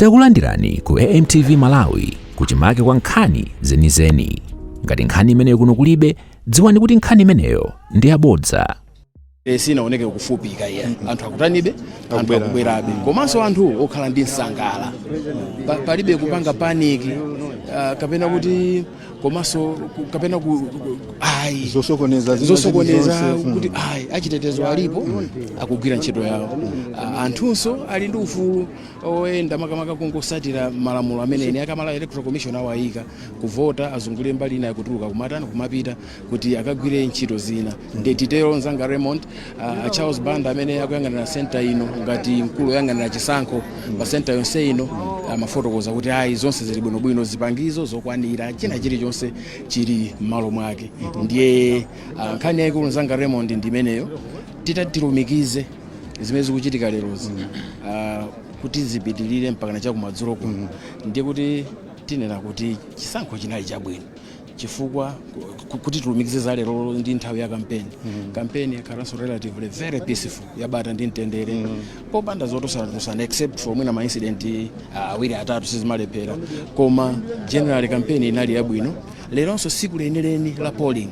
Takulandirani ku AMTV Malawi kuchimake kwa nkhani zenizeni. Ngati nkhani imeneyo kuno kulibe, dziwani kuti nkhani imeneyo ndi yabodza. Eh, sinaoneke kufupika iya anthu akutanibe anthu akubwerabe komanso anthu okhala ndi nsangala. Pa- palibe kupanga panic ah, kapena kuti komanso ku- kapena ku ku- ayi zosokoneza zina zosokoneza zilizonse, mm. kuti ayi achitetezo alipo akugwira ntchito yawo Ah, anthunso ali ndi ufulu oyenda makamaka kungotsatira malamulo amene eni a malawi electoral commission awayika kuvota azungulire mbali ina yotulukira kumatani kumapita kuti akagwire ntchito zina nde titero nzanga raymond uh, charles banda amene akuyang'anira senta ino ngati mkulu oyang'anira chisankho pa senta yonse ino amafotokoza kuti ayi zonse zili bwinobwino zipangizo zokwanira china chilichonse chili m'malo mwake ndiye uh, nkhani yayikulu nzanga raymond ndi imeneyo titatilumikize zimene zikuchitika lero zino ah, kuti zipitirire mpakana chakumadzulo kuno ndiye kuti tinena kuti chisankho chinali chabwino chifukwa ku- kuti tilumikize za lero ndi nthawi ya kampeni kampeni yakhalanso relatively very peaceful yabata ndi mtendere popanda zotosanatosana except for mwina maincident ah, awiri atatu sizimalephera koma general kampeni inali yabwino leronso tsiku lenileni la polling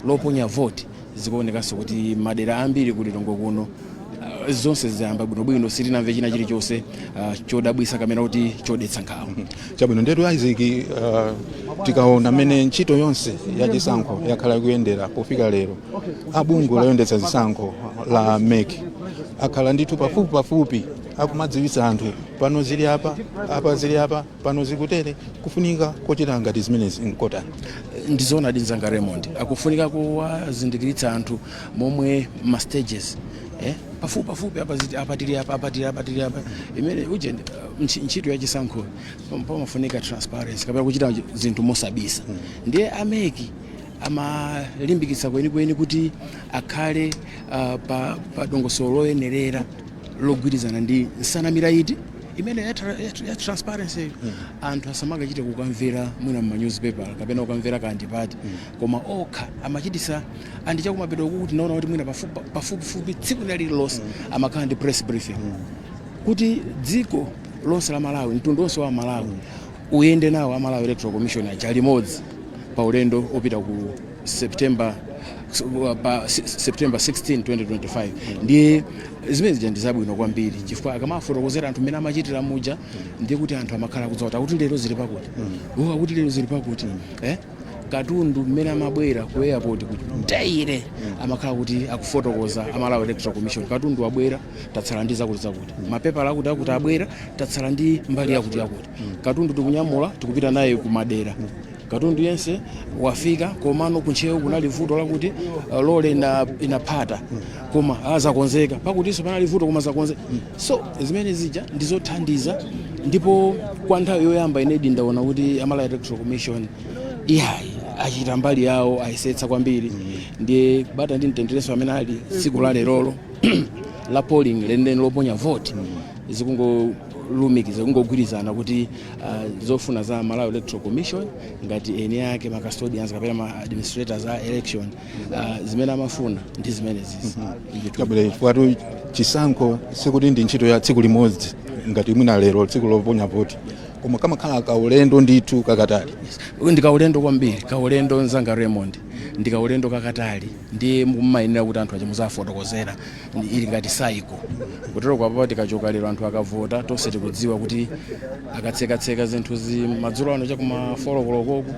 loponya vote zikuonekanso kuti madera ambiri ku lilongwe kuno ah, zonse zayamba bwinobwino sitinamve china chilichonse ah, chodabwisa kapena kuti chodetsa nkhawa chabwino ndetu isaac uh, tikaona mmene ntchito yonse ya chisankho yakhala ikuyendera pofika lero a bungwe loyendetsa zisankho la mek akhala ndithu pafupi pafupi akumadziwitsa anthu pano zili apa apa zili apa pano zikutere kufunika kochita ngati zimenezi nkotani ndizoonadi nzanga raymond kufunika kuwazindikiritsa anthu momwe ma stages eh? pafupi pafupi apa ziti- apa tili apa apa tili apa tili apa imene uje ndi- ntchi- ntchito ya chisankho pam- pamafunika transparency kapena kuchita chi- zinthu mosabisa ndiye a mek amalimbikitsa kwenikweni kuti akhale ah, pa, pa dongosolo loyenerera logwirizana ndi nsanamira iti imeneyo ya, tra- ya, tra- ya transparency anthu asamakachite kukamvera mwina mma newspaper kapena kukamvera kwa andipati koma okha amachititsa and chakumapeto kuku tinaona kuti mwina pafupi- pafupifupi tsiku lina lililonse amakhala ndi press briefing kuti dziko lonse la malawi mtundu wonse wa amalawi uyende nawo a malawi electoral commission aja limodzi pa ulendo opita ku September pa September 16 2025 ndi zimene zija ndi zabwino kwambiri chifukwa akamafotokozera anthu mmene amachitira muja ndiye kuti anthu amakhala kudziwa kuti akuti lero zili pakuti iwo akuti lero zili pakuti eh katundu mmene amabwera ku airport kuti ayi amakhala kuti akufotokoza amalawi electoral commission katundu wabwera tatsala ndi zakuti zakuti mapepala akuti akuti abwera tatsala ndi mbali yakuti yakuti katundu tikunyamula tikupita naye kumadera katundu yense wafika komano kuntcheu kunali vuto lakuti uh, lole ina- inaphata koma azakonzeka pakutinso panali vuto koma zakonzeka so zimene zija ndizothandiza ndipo kwa nthawi yoyamba inedi ndaona kuti amalawi electoral commission iyayi achita mbali yawo ayesetsa kwambiri ndiye bata ndi mtenderenso amene ali tsiku la lerolo la polling lenileni loponya voti zikungo lumikiza kungogwirizana kuti uh, zofuna za Malawi Electoral Commission ngati eni ake ma custodians kapena ma administrators a election uh, zimene amafuna ndi zimene zizi kabwere kwatu chisankho sikuti ndi ntchito ya tsiku limodzi ngati mwina lero tsiku loponya voti koma kamakhala kaulendo ndithu kakatali Uyu ndi kaulendo kwambiri kaulendo nzanga Raymond ndi kaulendo kakatali ndiye mumayenera kuti anthu azidziwa muziwafotokozera Ndi- ili ngati saiko kutero kwake apapa tikachoka lero anthu akavota tonse tikudziwa kuti akatsekatseka zinthu zi madzulo ano chakuma folokolokoku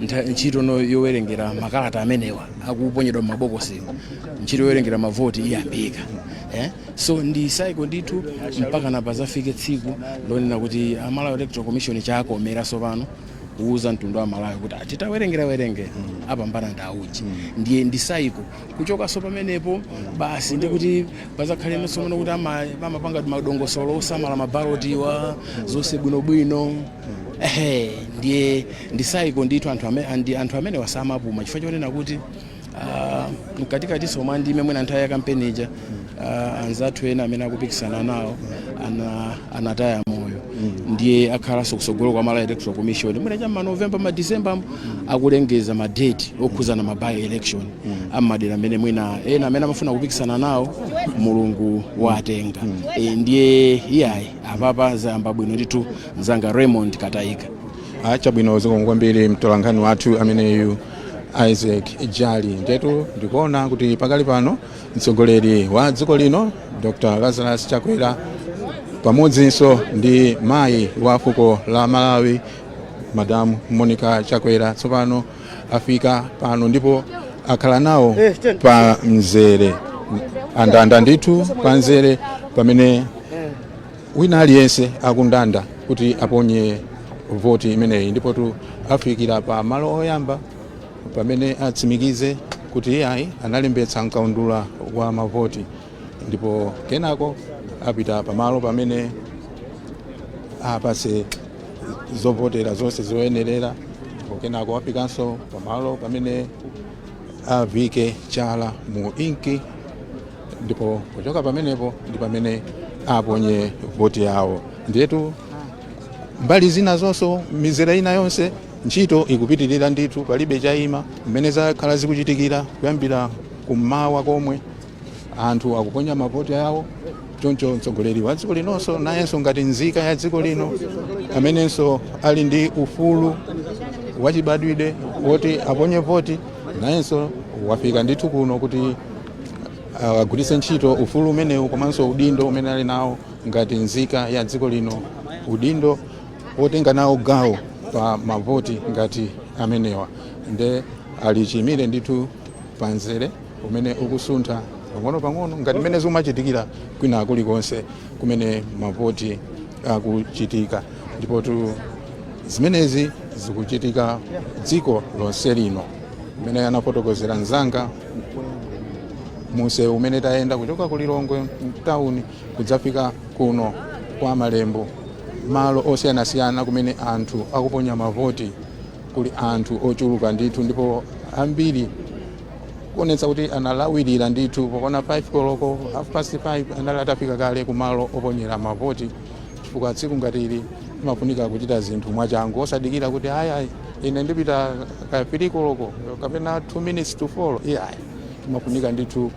ntha- ntchito no yowerengera makalata amenewa akuponyedwa m'mabokosiwo ntchito yowerengera mavoti iyambika eh? so ndi saiko ndithu mpaka pazafike tsiku lonena kuti amalawi electoral commission atsikomera sopano kuuza mtundu wa malawi kuti titawerengera werenge apambana ndi auje ndiye ndi saiko Kuchokanso pamenepo, basi ndiye kuti padzakhalenso tsopano kuti ama- amapanga madongosolo osamala mabalotiwa zonse bwinobwino ehe ndiye ndi saiko ndithu anthu amene, andi, anthu amene samapuma chifukwa chonena kuti ah, mkatikatinso mwa ndime mwina nthawi ya kampeni ija ah, anzathu ena amene akupikisana nawo ana, anataya moyo ndiye akhalanso kusogoloku amalawi electoral commission mwina cha manovemba madecemba akulengeza madeti okhuzana ma by election ammadera amene mwina ena amene amafuna kupikisana nawo mulungu watenga Eh, ndiye iyayi apapa zayamba bwino ndithu mzanga raymond katayika chabwino zikomo kwambiri mtolankhani wathu ameneyu isaac jali ndetu ndikuona kuti pakali pano mtsogoleri wa dziko lino dr lazarus chakwera pamodzinso ndi mayi wa fuko la malawi madamu monica chakwera tsopano afika pano ndipo akhala nawo pa mzere andanda ndithu pa mzere pamene wina aliyense akundanda kuti aponye voti imeneyi ndipotu afikira pa malo oyamba pamene atsimikize kuti iyayi analembetsa m'kaundula wa mavoti ndipo kenako apita pamalo pamene apatsidwe zovotera zonse zoyenerera ndipo kenako afikanso pamalo pamene avike chala mu inki ndipo kuchoka pamenepo ndi pamene aponye voti yawo ndiyetu mbali zina zonso mizere ina yonse ntchito ikupitirira ndithu palibe chayima mmene zakhala zikuchitikira kuyambira kummawa komwe anthu akuponya mavoti awo choncho mtsogoleri wa dziko linonso nayenso ngati nzika ya dziko lino amenenso ali ndi ufulu wachibadwidwe woti aponye voti nayenso wafika ndithu kuno kuti agwiritse ntchito ufulu umenewu komanso udindo umene ali nawo ngati nzika ya dziko lino udindo wotenga nawo gawo pa mavoti ngati amenewa nde ali chiyimire ndithu pamzere umene ukusuntha pang'onopang'ono ngati mmene zikumachitikira kwina kulikonse kumene mavoti akuchitika ndipotu zimenezi zikuchitika dziko lonse lino mmene anafotokozera mzanga mumsewu umene tayenda kuchoka ku lilongwe mtawuni kudzafika kuno kwa malembo malo osiyanasiyana kumene anthu akuponya mavoti kuli anthu ochuluka ndithu ndipo ambiri kuonetsa kuti analawirira ndithu pokwana 5 koloko half past 5 anali atafika kale kumalo oponyera mavoti chifukwa tsiku ngati ili imafunika kuchita zinthu mwachangu osadikira kuti ayayi ine ndipita ka 3 koloko kapena 2 minutes to 4 iyayi imafunika ndithu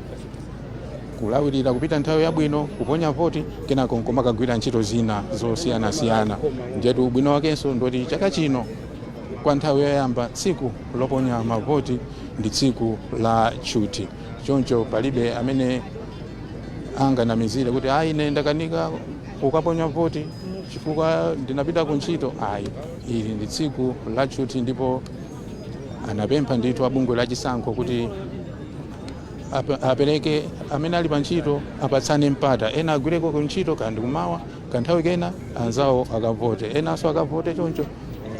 kulawirira kupita nthawi yabwino kuponya voti kenako nkomakagwira ntchito zina zosiyanasiyana ndiyetu ubwino wakenso ndoti chaka chino kwa nthawi yoyamba tsiku loponya mavoti ndi tsiku la tchuthi choncho palibe amene anganamizire kuti ayi ine ndakanika kukaponya voti chifukwa ndinapita ku ntchito ayi ili ndi tsiku la tchuthi ndipo anapempha ndithu abungwe la chisankho kuti ap- apereke amene ali pa ntchito apatsane mpata ena agwireko ku ntchito ka ndi kummawa Kanthawi kena anzawo akavote, enanso akavote choncho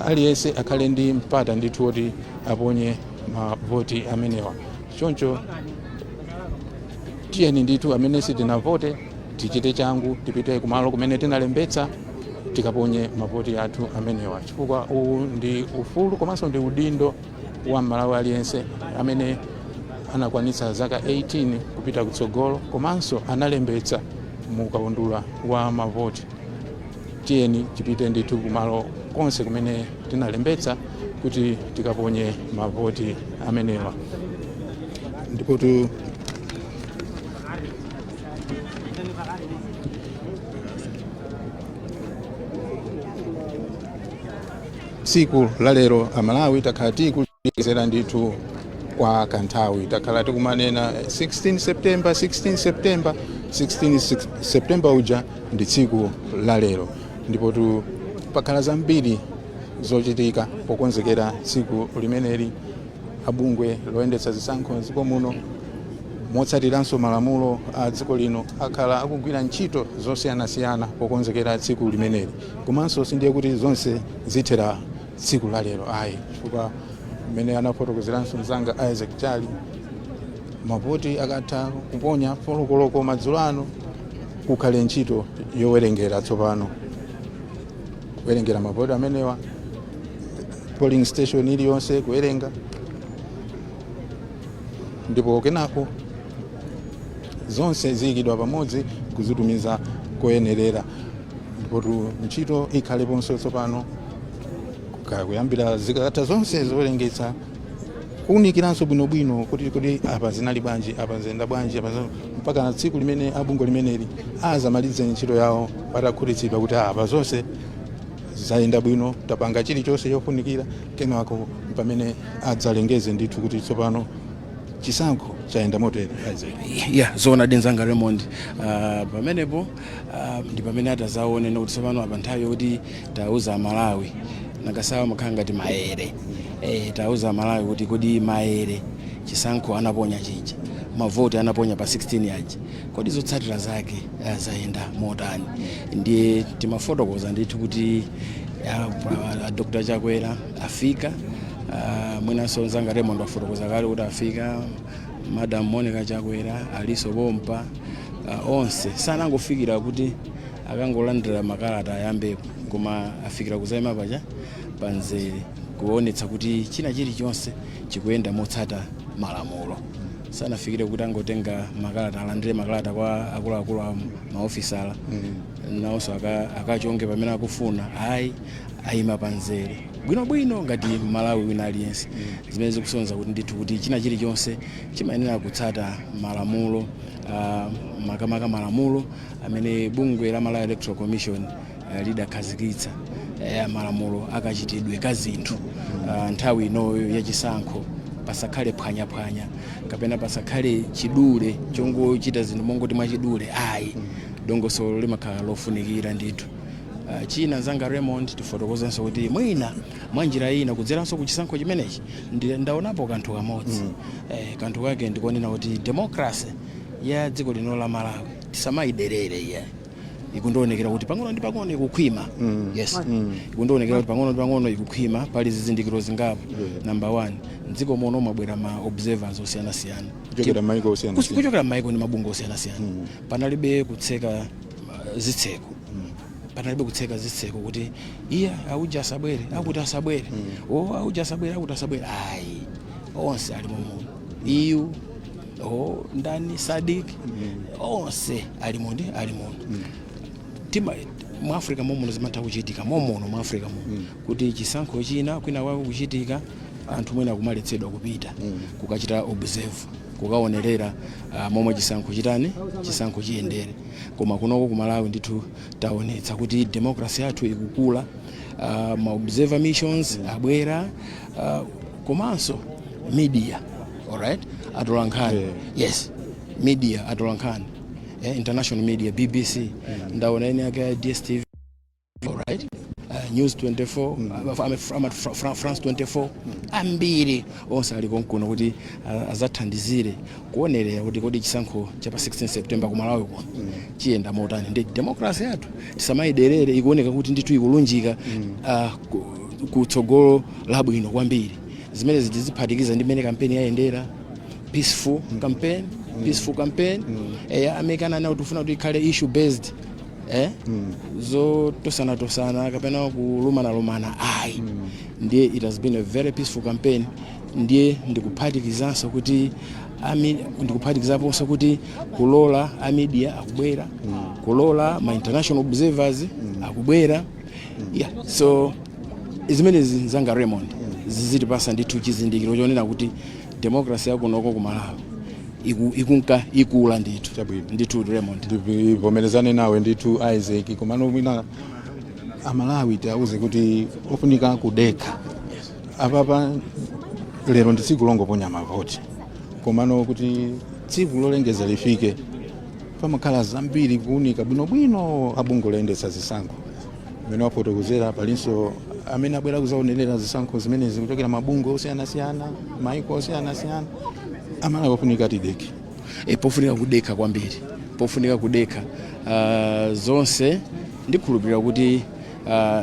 aliyense akhale ndi mpata ndithu woti aponye mavoti amenewa. Choncho tiyeni ndithu amene sitinavote tichite changu tipite kumalo kumene tinalembetsa tikaponye mavoti athu amenewa, chifukwa uwu ndi ufulu komanso ndi udindo wa mmalawi aliyense amene anakwanitsa zaka 18 kupita kutsogolo komanso analembetsa mu kaundula wa mavoti tiyeni tipite ndithu kumalo konse kumene tinalembetsa kuti tikaponye mavoti amenewa ndipotu Tsiku la lero Amalawi takhala tikulikonzekera ndithu kwa kanthawi. Takhala tikumanena 16 September, 16 September, 16 six- September uja ndi tsiku la lero, ndipo tu pakhala zambiri zochitika pokonzekera tsiku limeneli. Abungwe loyendetsa zisankho m'dziko muno motsatiranso malamulo a dziko lino akhala akugwira ntchito zosiyanasiyana pokonzekera tsiku limeneli. komanso sindiye kuti zonse zithera tsiku la lero ayi chifukwa mmene anafotokozeranso mzanga isaac jali mavoti akatha kuponya folokoloko madzulo ano kukhale ntchito yowerengera tsopano kuwerengera mavoti amenewa polling station iliyonse kuwerenga ndipo kenako zonse ziyikidwa pamodzi kuzitumiza koyenerera ndipotu ntchito ikhaleponso tsopano Ka- kuyambira zikakatha zonse zowerengetsa kuunikiranso bwinobwino kuti kuti apa zinali bwanji apa ziyenda bwanji apa zina- mpaka na tsiku limene abungwe limeneli azamalize ntchito yawo atakhutitsidwa kuti apa zonse zayenda bwino tapanga chilichonse chofunikira kenako pamene adzalengeze ndithu kuti tsopano chisankho chayenda motere ya zoonadi mnzanga raymond ah, pamenepo ah, ndi pamene atazaone kuti tsopano apa nthawi yokuti tiwauze amalawi masankhowa amakhala ngati maere eh, tiwauze amalawi kuti kodi maere chisankho anaponya chija mavoti anaponya pa 16 aja kodi zotsatira zake ah, zayenda motani ndiye timafotokoza ndithu kuti ah, pa- ah, dr chakwera afika uh, mwinanso nzanga Raymond wafotokoza kale kuti afika madam Monica Chakwera alinso pompa uh, onse sanangofikira kuti akangolandira makalata ayambepo koma afikira kuzaima paja pamzere kuonetsa kuti china chilichonse chikuyenda motsata malamulo sanafikire kuti angotenga makalata alandire makalata kwa akuluakulu a maofisala nawonso aka- akachonge pamene akufuna ayi ayima pa nzere bwinobwino ngati Mmalawi wina aliyense, zimene zikusonyeza kuti ndithu kuti china chilichonse chimayenera kutsata malamulo ah, makamaka malamulo amene bungwe la Malawi Electoral Commission eh, lidakhazikitsa eh, malamulo akachitidwe ka zinthu ah, nthawi inoyo ya chisankho pasakhale phwanyaphwanya kapena pasakhale chidule chongochita zinthu mongoti mwachidule ayi dongosolo limakhala lofunikira ndithu Uh, china nzanga Raymond tifotokozenso kuti mwina mwa njira ina kudzeranso ku chisankho chimenechi ndi- ndaonapo kanthu kamodzi mm. eh, kanthu kake ndikonena kuti democracy ya dziko lino la malawi tisamayiderere iyayi ikundionekera kuti pang'ono ndi pang'ono ikukhwima mm. yes mm. ikundionekera kuti pang'ono ndi pang'ono ikukhwima pali zizindikiro zingapo yeah. number one mdziko muno mwabwera ma observers osiyanasiyana Kuchokera m'mayiko osiyanasiyana. Kuch- kuchokera m'mayiko ndi mabungwe osiyanasiyana panalibe kutseka zitseko panalibe kutseka zitseko kuti iye auja asabwere akuti asabwere o auja asabwere akuti asabwere ayi onse ali mumuno EU o ndani SADC onse ali mu- ndi ali muno tima mu africa momuno zimatha kuchitika momuno mu africa muno kuti chisankho china kwina kwako kuchitika anthu mwina kumaletsedwa kupita kukachita observe kukaonerera uh, momwe chisankho chitani chisankho chiyendere koma kunoko ku malawi ndithu taonetsa kuti demokrasi yathu ikukula uh, ma observer missions abwera uh, komanso media alright atolankhani yeah. yes media atolankhani eh, international media bbc yeah. ndaona ina yake ya dstv right? Uh, news 24 mm. uh, ah, ama- Fra Fra france 24 ambiri onse ali konkuno kuti uh, azathandizire kuonerera kuti kodi chisankho cha pa 16 september kumalawi kuno chiyenda motani ndi democracy yathu tisamayiderere ikuoneka kuti ndithu ikulunjika uh, ku- kutsogolo labwino kwambiri zimene tiziphatikiza ndi mmene kampeni yayendera peaceful campaign peaceful campaign eya a MEC ananena tikufuna kuti ikhale issue based eh? mm. zotosanatosana kapena kulumanalumana ayi mm. ndiye it has been a very peaceful campaign ndiye ndikuphatikizanso kuti ndikuphatikizaponso kuti kulola a media akubwera mm. kulola ma international observers mm. akubwera mm. yeah. so zimenezi nzanga raymond mm. zizitipasa ndithu chizindikiro chonena kuti democracy yakunoko ku malawi iku- ikunka ikula ndithu Chabwino. ndithu raymond ndivomerezane nawe ndithu isaac komano mwina amalawi tiauze kuti ofunika kudekha apapa lero ndi tsiku longoponya mavoti komano kuti tsiku lolengeza lifike pamakhala zambiri kuunika bwinobwino abungwe loyendetsa zisankho mmene wafotokozera palinso amene abwera kuzaonerera zisankho zimenezi kuchokera mabungwe osiyanasiyana maiko osiyanasiyana amalawi ofunika tidekhe e, pofunika kudekha kwambiri pofunika kudekha uh, zonse ndikhulupirira kuti uh,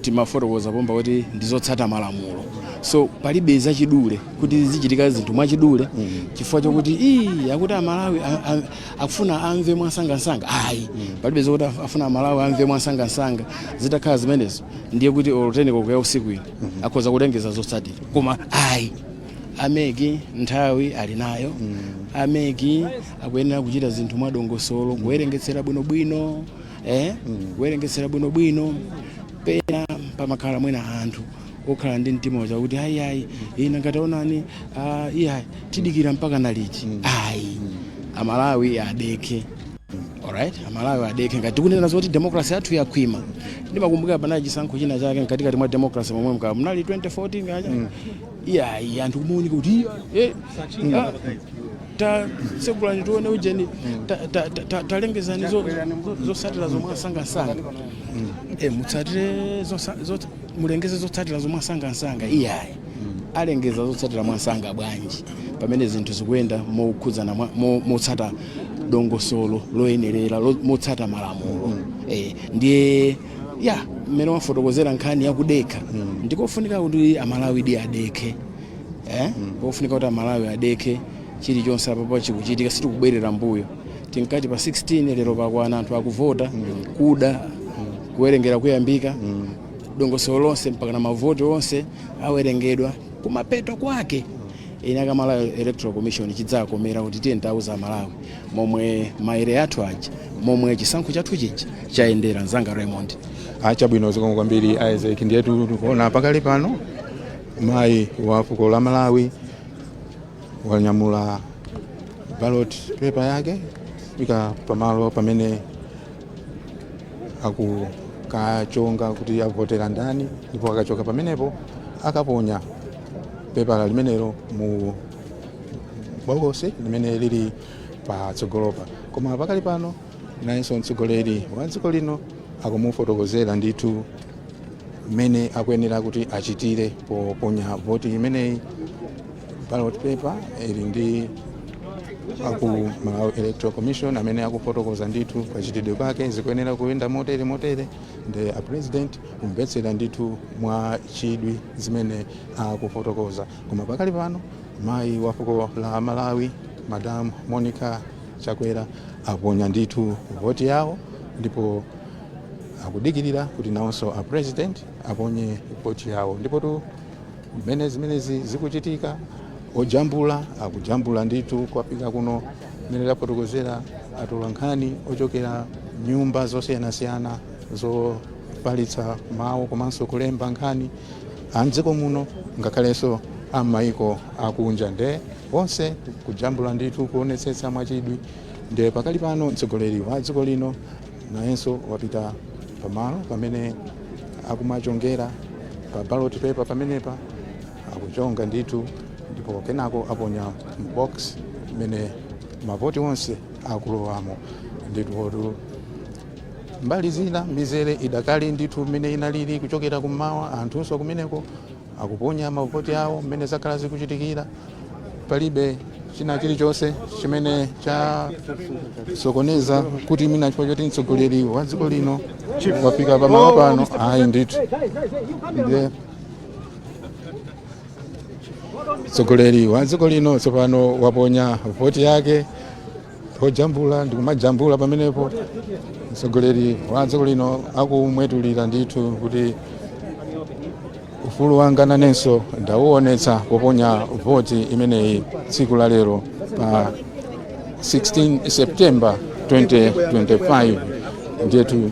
timafotokoza pompa kuti ndizotsata malamulo so palibe zachidule kuti zichitika zinthu mwachidule chifukwa chokuti ii akuti amalawi a- a- akufuna amve mwansangansanga ayi palibe zokuti af- afuna amalawi amve mwansangansanga zitakhala zimenezo ndiye kuti olo 10 koloko ya usiku ino akhoza kulengeza zotsatira koma ayi ameki nthawi ali nayo ameki akuyenera kuchita zinthu mwadongosolo kuwerengetsera bwinobwino eh? kuwerengetsera bwinobwino pena pamakhala mwina anthu okhala ndi mtima uja kuti ayi ayi ina ngati aonani ah, iya tidikira mpakana liti ayi amalawi adekhe alright amalawi adekhe ngati tikunena zoti demokrasi yathu yakhwima ndimakumbukira panali chisankho china chake mkatikati mwa demokrasi momwe mwina munali 2014 kacha iya ayi anthu kumaoneka kuti iya eh, ah, ta segulani tione ujeni ta- ta- ta- ta- talengezani zo- zo- zotsatira zo mwansangansanga Eh, mutsatire zosa- zot- mulengeze zotsatira zo mwansangansanga iyayi alengeza zotsatira mwansanga bwanji pamene zinthu zikuyenda mokhudzana mwa- mo- motsata dongosolo loyenerera lo- motsata malamulo eh, ndiye ya mmene wafotokozera nkhani yakudekha ndikofunika kuti amalawidi adekhe eh? pofunika kuti amalawi adekhe chilichonse apapa chikuchitika sitikubwerera mbuyo tinkati pa 16 lero pakwana anthu akuvota kuda kuwerengera kuyambika mm. dongosolo lonse mpakana mavoti onse awerengedwa kumapeto kwake ine ngati malawi electoral commission chidzakomera kuti tiye ntauza amalawi momwe maere athu aja momwe chisankho chathu chija chayendera mzanga raymond ah, chabwino zikomo kwambiri isaac ndiyetu tikuona pakali pano mayi wa fuko la malawi wanyamula ballot paper yake wafika pamalo pamene akukachonga kuti avotera ndani ndipo akachonga pamenepo akaponya pepala limenelo mu bokosi limene lili patsogolopa koma pakali pano nayenso mtsogoleri wa dziko lino akumufotokozera ndithu mmene akuyenera kuti achitire poponya voti imeneyi ballot paper ili ndi aku Malawi Electoral Commission amene akufotokoza ndithu kachitidwe kwake zikuyenera kuyenda motere motere nde a president kumvetsera ndithu mwa chidwi zimene akufotokoza koma pakali pano mayi wa fuko la Malawi Madam Monica Chakwera aponya ndithu voti yawo ndipo akudikirira kuti nawonso a president aponye voti yawo ndipotu Mmene zimenezi zikuchitika, ojambula akujambula ndithu kwafika kuno mmene tafotokozera atolankhani ochokera nyumba zosiyanasiyana zofalitsa mawu komanso kulemba nkhani a mdziko muno ngakhalenso a m'mayiko akunja nde onse kujambula ndithu kuonetsetsa mwachidwi nde pakali pano mtsogoleri wa dziko lino nayenso wapita pamalo pamene akumachongera pa ballot paper pamenepa akuchonga ndithu ndipo kenako aponya mu box mmene mavoti onse akulowamo ndithu mbali zina mizere idakali ndithu mmene inalili kuchokera kummawa anthunso kumeneko akuponya mavoti awo mmene zakhala zikuchitikira palibe china chilichonse chimene chasokoneza kuti mwina chifukwa choti mtsogoleri wa dziko lino wafika pamalo pano ayi ndithu ndiye mtsogoleri wa dziko lino tsopano waponya voti yake ojambula ndikumajambula pamenepo mtsogoleri wa dziko lino akumwetulira ndithu kuti ufulu wanga nanenso ndawuonetsa poponya voti imeneyi tsiku la lero pa 16 september 2025 ndiyetu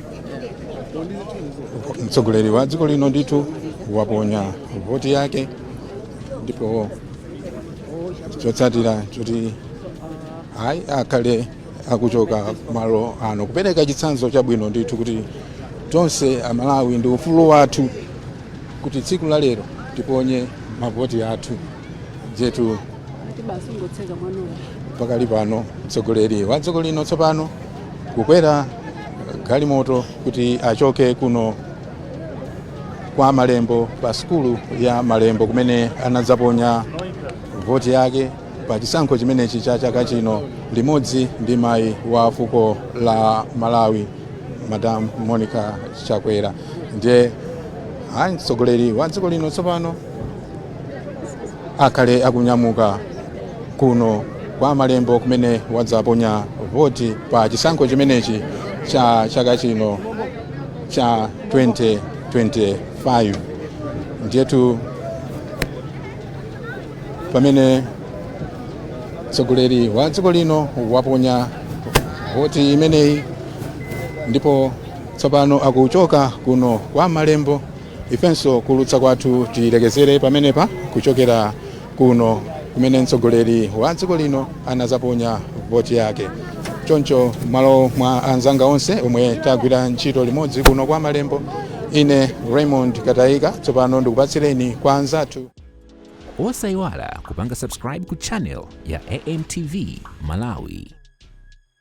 mtsogoleri wa dziko lino ndithu waponya voti yake ndipo chotsatira choti ayi akhale akuchoka malo ano kupereka chitsanzo chabwino ndithu kuti tonse amalawi ndi ufulu wathu kuti tsiku la lero tiponye mavoti athu ndiyetu pakali pano mtsogoleri wa dziko lino tsopano kukwera galimoto kuti achoke kuno kwa malembo pa sukulu ya malembo kumene anadzaponya voti yake pa chisankho chimenechi cha chaka chino limodzi ndi mayi wa fuko la malawi madam monica chakwera ndiye ayi mtsogoleri wa dziko lino tsopano akhale akunyamuka kuno kwa malembo kumene wadzaponya voti pa chisankho chimenechi cha chaka chino cha 2025 ndiyetu pamene mtsogoleri wa dziko lino waponya voti imeneyi ndipo tsopano akuchoka kuno kwa malembo ifenso kulutsa kwathu tilekezere pamenepa kuchokera kuno kumene mtsogoleri wa dziko lino anazaponya voti yake choncho malo mwa anzanga onse omwe tagwira ntchito limodzi kuno kwa malembo ine raymond katayika tsopano ndikupatsireni kwa anzathu osayiwala kupanga subscribe ku channel ya amtv malawi